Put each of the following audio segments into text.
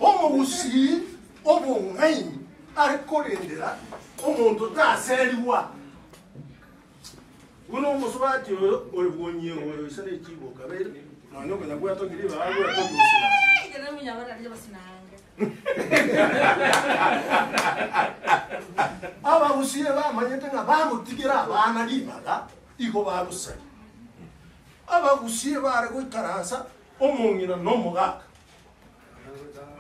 Omogusii obong'aini are korendera omonto otaserigwa, buna omosubati oyo oebwonyi egoyo ise ne chiboka bere, nonya okonya gwatokire igo agwete ogosinanga. Abagusii ebamanyete ng'a bagotigera abana ribaga, igo bagosaria. Abagusie baare goikaransa omong'ina na omogaka,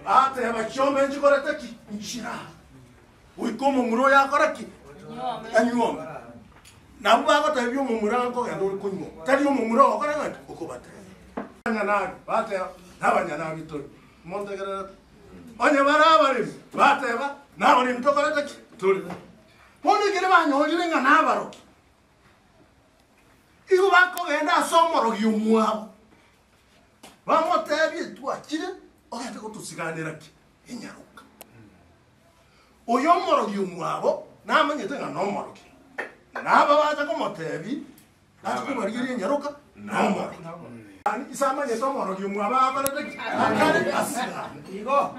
bateeba, Chiombe nchikorete ki? Nchira goika omomura oyo akore ki? Anyuome. Nabwo bagoteebia omomura, Nkogenda ore konyuoma, tari omomura ogokora ng'aki? Okobateebia. Abanyanabi bateeba, Nabanyanabi tore, montegererete. Onye bare abaremi, bateeba, Nabaremi tokorete ki? Tore. Bono ekero banyorire ng'a nabarokia, Igo bakogenda ase omorogi omwabo, bamotebie, Twachire, ogete gotosiganera ki? Inyaroka. Oyo omorogi omwabo namanyete ng'a nomorogi, na aba bacha komotebi bache kobarigeria inyaroka nomorogi. Gani ise amanyete omorogi omwabo akorete ki? Akare asigane. Igo.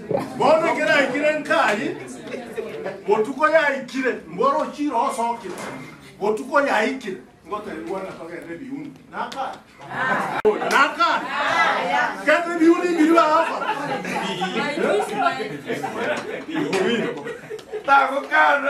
Bono ekero aikire Nkayi, botuko yaikire, mboro ochire osoke, botuko yaikire, ngotebi bwana togende ebiuni. Nakana? Nakana? Kende ebiuni mbiri bagokora. Tagokana.